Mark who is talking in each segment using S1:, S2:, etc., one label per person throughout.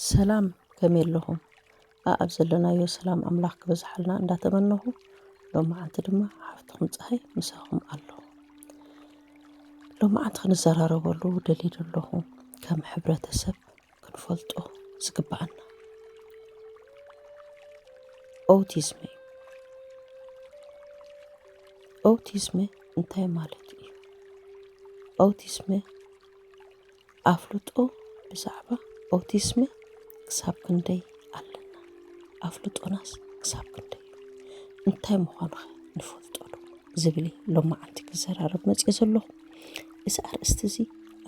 S1: ሰላም ከመይ ኣለኹም? ኣኣብ ዘለናዮ ሰላም ኣምላኽ ክበዝሓልና እንዳተመነኹ ሎማዓንቲ ድማ ሓፍትኹም ፀሃይ ምሳኹም ኣለኹ። ሎማዓንቲ ክንዘራረበሉ ደልየ ዘለኹ ከም ሕብረተሰብ ክንፈልጦ ዝግብኣና ኦቲዝመ እዩ። ኦቲዝመ እንታይ ማለት እዩ? ኦቲዝመ ኣፍልጦ ብዛዕባ ኦቲዝመ ክሳብ ክንደይ ኣለና? ኣፍልጦናስ ክሳብ ክንደይ እዩ? እንታይ ምዃኑ ኸ ንፈልጦዶ? ዝብል ሎማዓንቲ ክዘራረብ መፅኦ ዘለኹ እዚ ኣርእስቲ እዚ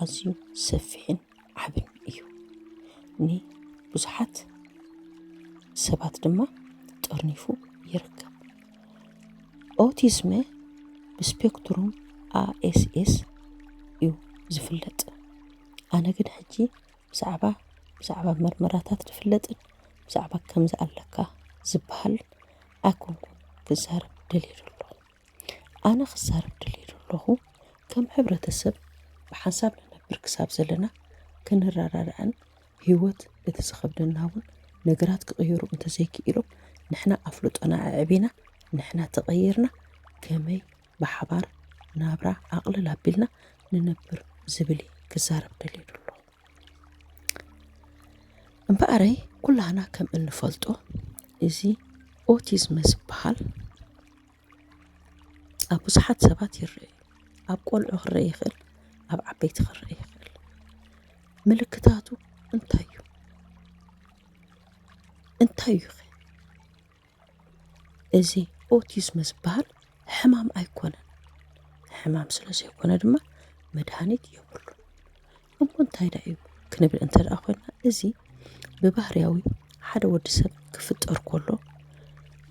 S1: ኣዝዩ ሰፊሕን ዓብን እዩ ን ብዙሓት ሰባት ድማ ጠርኒፉ ይርከብ። ኦቲዝመ ብስፔክትሩም ASS እዩ ዝፍለጥ። ኣነ ግን ሕጂ ብዛዕባ ብዛዕባ መርመራታት ዝፍለጥን ብዛዕባ ከምዚ ኣለካ ዝበሃል ኣይኮንኩን ክዛረብ ደልየ ዘሎ። ኣነ ክዛረብ ድልየ ደለኹ ከም ሕብረተሰብ ብሓንሳብ ንነብር ክሳብ ዘለና ክንረዳዳእን ህይወት እቲ ዝኸብደና እውን ነገራት ክቕየሩ እንተዘይክኢሎም ንሕና ኣፍልጦና ኣዕቢና ንሕና ተቐይርና ከመይ ብሓባር ናብራ ኣቕልል ኣቢልና ንነብር ዝብል እየ ክዛረብ ደልየ ደለኹ። እምበኣረይ ኩላህና ከም እንፈልጦ እዚ ኦቲዝመ ዝበሃል ኣብ ብዙሓት ሰባት ይረኣ እዩ። ኣብ ቆልዑ ክረኣ ይኽእል፣ ኣብ ዓበይቲ ክረኣ ይኽእል። ምልክታቱ እንታይ እዩ? እንታይ እዩ እዚ ኦቲዝም ዝበሃል ሕማም ኣይኮነን። ሕማም ስለ ዘይኮነ ድማ መድሃኒት የብሉን። እሞ እንታይ ደኣ እዩ ክንብል እንተ ደኣ ኮይና እዚ ብባህርያዊ ሓደ ወዲ ሰብ ክፍጠር ከሎ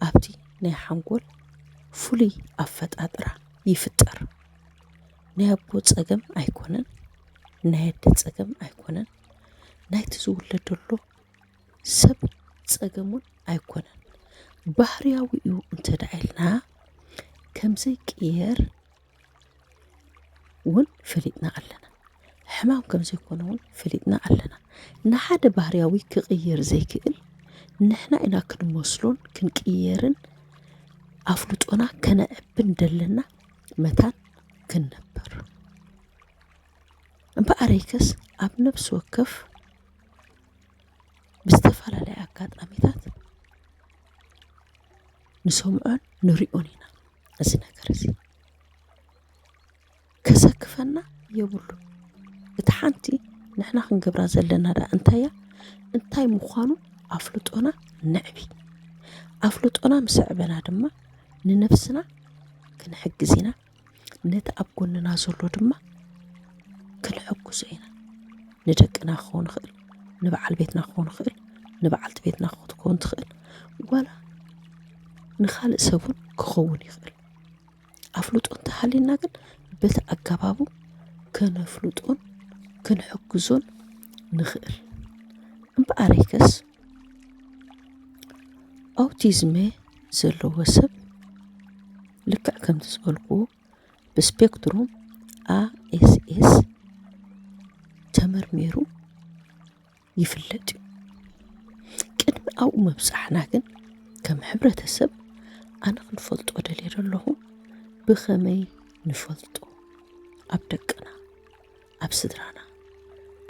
S1: ኣብቲ ናይ ሓንጎል ፍሉይ ኣፈጣጥራ ይፍጠር። ናይ ኣቦ ጸገም ኣይኮነን ናይ ኣደ ጸገም ኣይኮነን ናይቲ ዝውለደሉ ሰብ ጸገም እውን ኣይኮነን ባህርያዊ እዩ እንተ ደኣ ኢልና ከምዘይቅየር ውን ፈሊጥና ኣለና። ሕማም ከም ዘይኮነ ውን ፈሊጥና ኣለና። ንሓደ ባህርያዊ ክቕየር ዘይክእል ንሕና ኢና ክንመስሎን ክንቅየርን ኣፍልጦና ከነዕብን ደለና መታን ክንነበር እምበኣረይከስ ኣብ ነብሲ ወከፍ ብዝተፈላለየ ኣጋጣሚታት ንሰምዖን ንሪኦን ኢና እዚ ነገር እዚ ከሰክፈና የብሉን። እቲ ሓንቲ ንሕና ክንገብራ ዘለና ደኣ እንታይ እያ? እንታይ ምዃኑ ኣፍልጦና ነዕቢ። ኣፍልጦና ምስ ኣዕበና ድማ ንነብስና ክንሕግዝ ኢና። ነቲ ኣብ ጎንና ዘሎ ድማ ክንሕጉሶ ኢና ንደቅና ክኸውን ይኽእል ንበዓል ቤትና ክኸውን ይኽእል ንበዓልቲ ቤትና ክትከውን ትኽእል ዋላ ንኻልእ ሰብ እውን ክኸውን ይኽእል ኣፍልጦ እንተሃልዩና ግን በቲ ኣገባቡ ከነፍልጦን ክንሕግዞን ንኽእል እምበኣረይከስ ኣውቲዝመ ዘለዎ ሰብ ልክዕ ከምቲ ዝበልኩዎ ብስፔክትሩም ኣኤስኤስ ተመርሚሩ ይፍለጥ እዩ ቅድሚ ኣብኡ ምብፃሕና ግን ከም ሕብረተሰብ ኣነ ክንፈልጦ ደልየ ዘለኹ ብኸመይ ንፈልጦ ኣብ ደቅና ኣብ ስድራና፣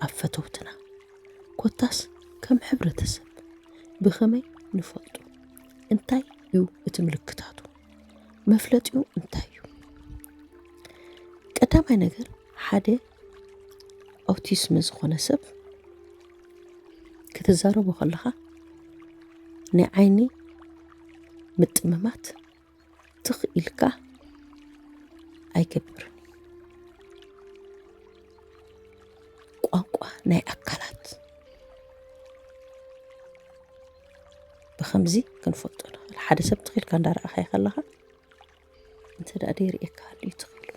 S1: ኣብ ፈተውትና፣ ኮታስ ከም ሕብረተሰብ ብኸመይ ንፈልጦ? እንታይ እዩ እቲ ምልክታቱ? መፍለጢኡ እንታይ እዩ? ቀዳማይ ነገር ሓደ ኣውቲስም ዝኾነ ሰብ ክትዛረቦ ከለኻ ናይ ዓይኒ ምጥምማት ትኽ ኢልካ ኣይገብርን ቋንቋ ናይ ኣካላት ብከምዚ ክንፈልጦ ንኽእል ሓደ ሰብ ትኽኢልካ እንዳረኣኻዮ ከለኻ እንተ ደኣ ደይርእየካ ሃልዩ ትኽኢሉ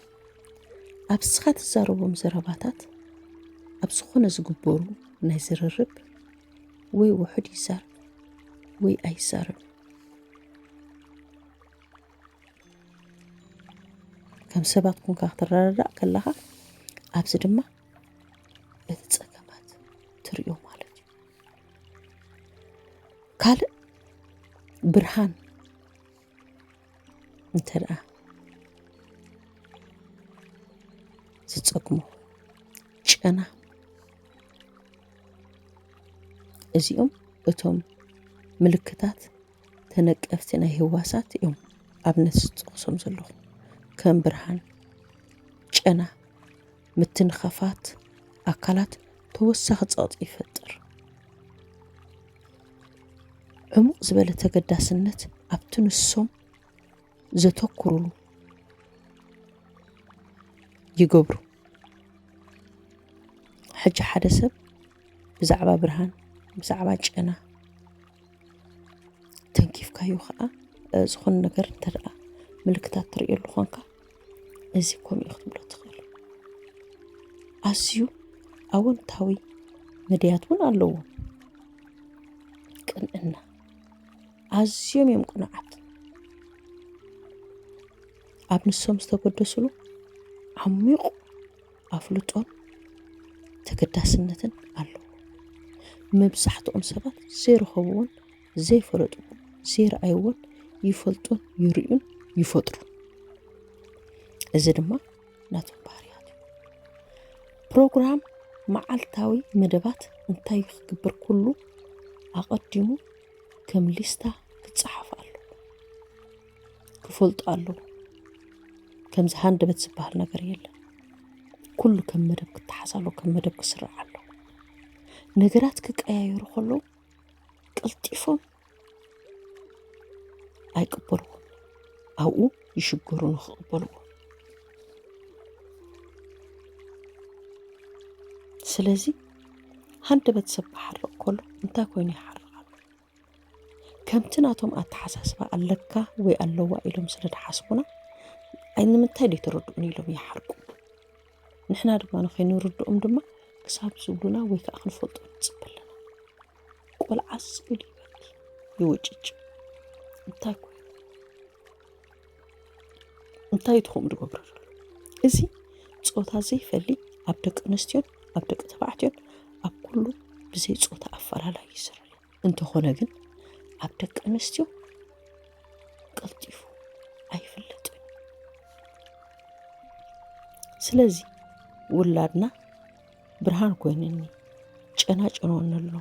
S1: ኣብ ስኻ ትዛረቦም ዘረባታት ኣብ ዝኾነ ዝግበሩ ናይ ዝርርብ ወይ ውሑድ ይዛረብ ወይ ኣይዛረብን ከም ሰባት ኩንካ ክትረዳዳእ ከለኻ ኣብዚ ድማ እቲ ፀገማት ትሪኦ ማለት እዩ ካልእ ብርሃን እንተ ደኣ ዝፀግሞ ጨና እዚኦም እቶም ምልክታት ተነቀፍቲ ናይ ህዋሳት እዮም ኣብነት ዝጠቕሶም ዘለኹ ከም ብርሃን ጨና ምትንኻፋት ኣካላት ተወሳኺ ጸቕጢ ይፈጥር ዕሙቕ ዝበለ ተገዳስነት ኣብቲ ንሶም ዘተኩሩሉ ይገብሩ ሕጂ ሓደ ሰብ ብዛዕባ ብርሃን ብዛዕባ ጨና ተንኪፍካዮ ከዓ ዝኾነ ነገር እንተደኣ ምልክታት ትርእየሉ ኾንካ እዚ ከምኡ እዩ ክትብሎ ትኽእል ኣዝዩ ኣወንታዊ መድያት እውን ኣለዎ ቅንዕና ኣዝዮም እዮም ቅኑዓት ኣብ ንሶም ዝተገደስሉ ዓሚቑ ኣፍልጦን ተገዳስነትን ኣለዎ መብዛሕትኦም ሰባት ዘይረኸብዎን ዘይፈለጥዎን ዘይረኣይዎን ይፈልጡን ይርእዩን ይፈጥሩን እዚ ድማ ናቶም ባህርያት እዩ ፕሮግራም መዓልታዊ መደባት እንታይ ክግብር ኩሉ ኣቐዲሙ ከም ሊስታ ክጸሓፍ ኣለዎ ክፈልጡ ኣለዎ ከምዚ ሃንደበት ዝበሃል ነገር የለን ኩሉ ከም መደብ ክተሓዝ ኣለዎ ከም መደብ ክስርዕ ኣለዎ ነገራት ክቀያየሩ ከለዉ ቀልጢፎም ኣይቅበልዎ ኣብኡ ይሽገሩ ንክቕበልዎ ስለዚ ሃንደበት ሰብ ክሓርቕ ከሎ እንታይ ኮይኑ ይሓርቕ ኣሎ? ከምቲ ናቶም ኣተሓሳስባ ኣለካ ወይ ኣለዋ ኢሎም ስለ ድሓስቡና ኣይ ንምንታይ ደይትረድኡኒ ኢሎም ይሓርቁ። ንሕና ድማ ንኸይንርድኦም ድማ ክሳብ ዝብሉና ወይ ከዓ ክንፈልጦ ንጽበ ኣለና። ቆልዓስ ኢሉ ይበኪ፣ ይውጭጭ። እንታይ ኮይኑ? እንታይ ትኹም ዝገብሩ ዘሎ እዚ ፆታ ዘይፈሊ ኣብ ደቂ ኣንስትዮን ኣብ ደቂ ተባዕትዮን ኣብ ኩሉ ብዘይ ፆታ ኣፈላላይ ይስራ እንተኾነ ግን ኣብ ደቂ ኣንስትዮ ቀልጢፉ ኣይፍለጥን ስለዚ ውላድና ብርሃን ኮይንኒ ጨና ጨኖኒ ኣሎ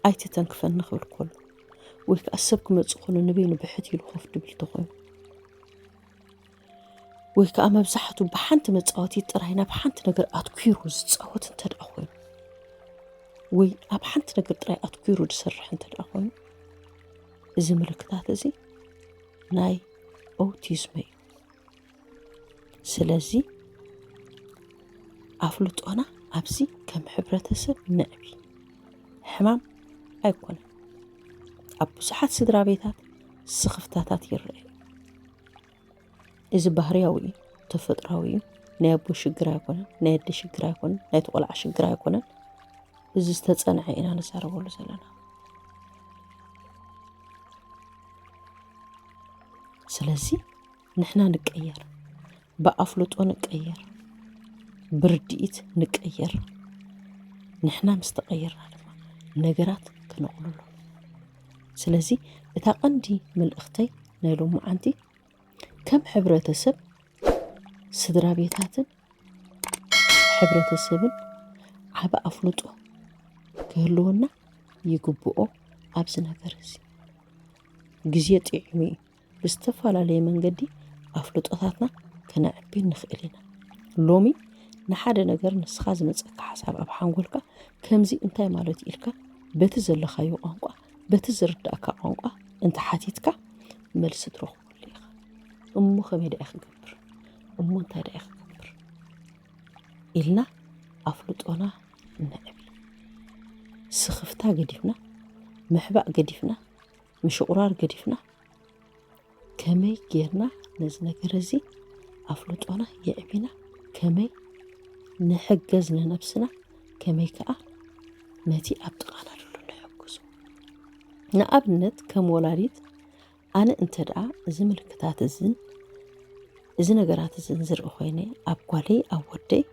S1: ኣይተተንክፈኒ ክብል ከሎ ወይ ከዓ ሰብ ክመፅእ ከሎ ንበይኑ ብሕት ኢሉ ኮፍ ድብል ተኾይኑ ወይ ከዓ መብዛሕትኡ ብሓንቲ መፃወቲ ጥራይ ናብ ሓንቲ ነገር ኣትኲሩ ዝፃወት እንተ ደኣ ኮይኑ ወይ ኣብ ሓንቲ ነገር ጥራይ ኣትኲሩ ዝሰርሕ እንተ ደኣ ኮይኑ እዚ ምልክታት እዚ ናይ ኦቲዝመ እዩ ስለዚ ኣፍልጦና ኣብዚ ከም ሕብረተሰብ ነዕቢ ሕማም ኣይኮነን ኣብ ብዙሓት ስድራ ቤታት ስኽፍታታት ይረአ እዩ እዚ ባህርያዊ እዩ ተፈጥራዊ እዩ ናይ ኣቦ ሽግር ኣይኮነን ናይ ኣደ ሽግር ኣይኮነን ናይ ተቆልዓ ሽግር ኣይኮነን እዚ ዝተፀንዐ ኢና ንዛረበሉ ዘለና ስለዚ ንሕና ንቀየር፣ ብኣፍልጦ ንቀየር፣ ብርድኢት ንቀየር። ንሕና ምስ ተቐየርና ድማ ነገራት ክነቕልሎ። ስለዚ እታ ቀንዲ መልእኽተይ ናይ ሎማዓንቲ ከም ሕብረተሰብ ስድራ ቤታትን ሕብረተሰብን ዓበ ኣፍልጦ ክህልወና ይግብኦ ኣብዚ ነገር እዚ ግዜ ጥዒሙ እዩ ብዝተፈላለየ መንገዲ ኣፍልጦታትና ከነዕቢ ንኽእል ኢና። ሎሚ ንሓደ ነገር ንስኻ ዝመጸካ ሓሳብ ኣብ ሓንጎልካ ከምዚ እንታይ ማለት እዩ ኢልካ በቲ ዘለኻዮ ቋንቋ በቲ ዝርዳእካ ቋንቋ እንተሓቲትካ መልሲ ትረኽበሉ ኢኻ። እሞ ከመይ ደኣ ክገብር እሞ እንታይ ደኣ ክገብር ኢልና ኣፍልጦና ነዕቢ። ስኽፍታ ገዲፍና፣ ምሕባእ ገዲፍና፣ ምሽቑራር ገዲፍና ከመይ ጌርና ነዚ ነገር እዚ ኣፍልጦና የዕቢና ከመይ ንሕገዝ ንነብስና ከመይ ከዓ ነቲ ኣብ ጥቓና ዘሎ ንሕግዞ ንኣብነት ከም ወላዲት ኣነ እንተ ደኣ እዚ ምልክታት እዝን እዚ ነገራት እዝን ዝርኢ ኮይነ ኣብ ጓለይ ኣብ ወደይ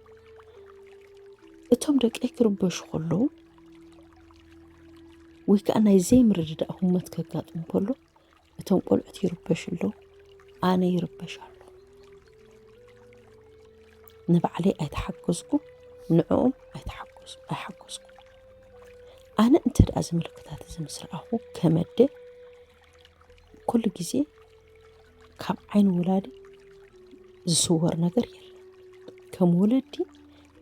S1: እቶም ደቀይ ክርበሹ ከለዉ ወይ ከዓ ናይ ዘይምርድዳእ ህሞት ከጋጥም ከሎ እቶም ቆልዑት ይርበሹ ኣለዉ ኣነ ይርበሽ ኣሎ ንባዕለይ ኣይተሓገዝኩ ንዕኦም ኣይሓገዝኩ ኣነ እንተ ደኣ እዚ ምልክታት እዚ ምስ ረኣኹ ከመደ ኩሉ ግዜ ካብ ዓይኒ ወላዲ ዝስወር ነገር የለን። ከም ወለዲ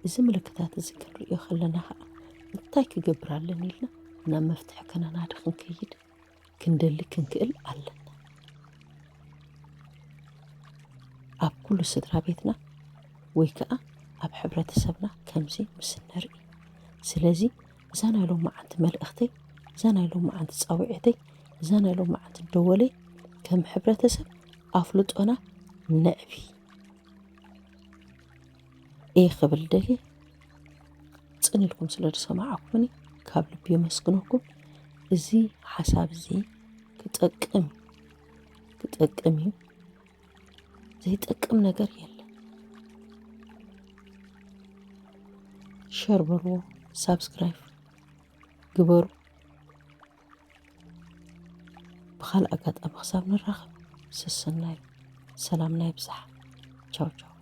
S1: እዚ ምልክታት እዚ ክንርእዮ ከለና ኸኣ እንታይ ክገብር ኣለኒ ኢልና ናብ መፍትሒ ከነናዲ ክንከይድ ክንደሊ ክንክእል ኣለና። ኣብ ኩሉ ስድራ ቤትና ወይ ከኣ ኣብ ሕብረተሰብና ከምዚ ምስ እንርኢ ስለዚ እዛ ናይ ሎመዓንቲ መልእኽተይ እዛ ናይ ሎመዓንቲ ጻዊዒተይ እዛ ናይ ሎመዓንቲ ደወለይ ከም ሕብረተሰብ ኣፍልጦና ነዕቢ እየ ክብል ደልየ ጽን ኢልኩም ስለ ዝሰማዕኩምኒ ካብ ልቢ የመስግነኩም እዚ ሓሳብ እዚ ክጠቅም ክጠቅም እዩ ዘይጠቅም ነገር የለን። ሸር በልዎ፣ ሳብስክራይብ ግበሩ። ብካልእ ኣጋጣሚ ክሳብ ንራኸብ ሰሰናዩ ሰላምና ይብዛሕ። ቻው ቻው።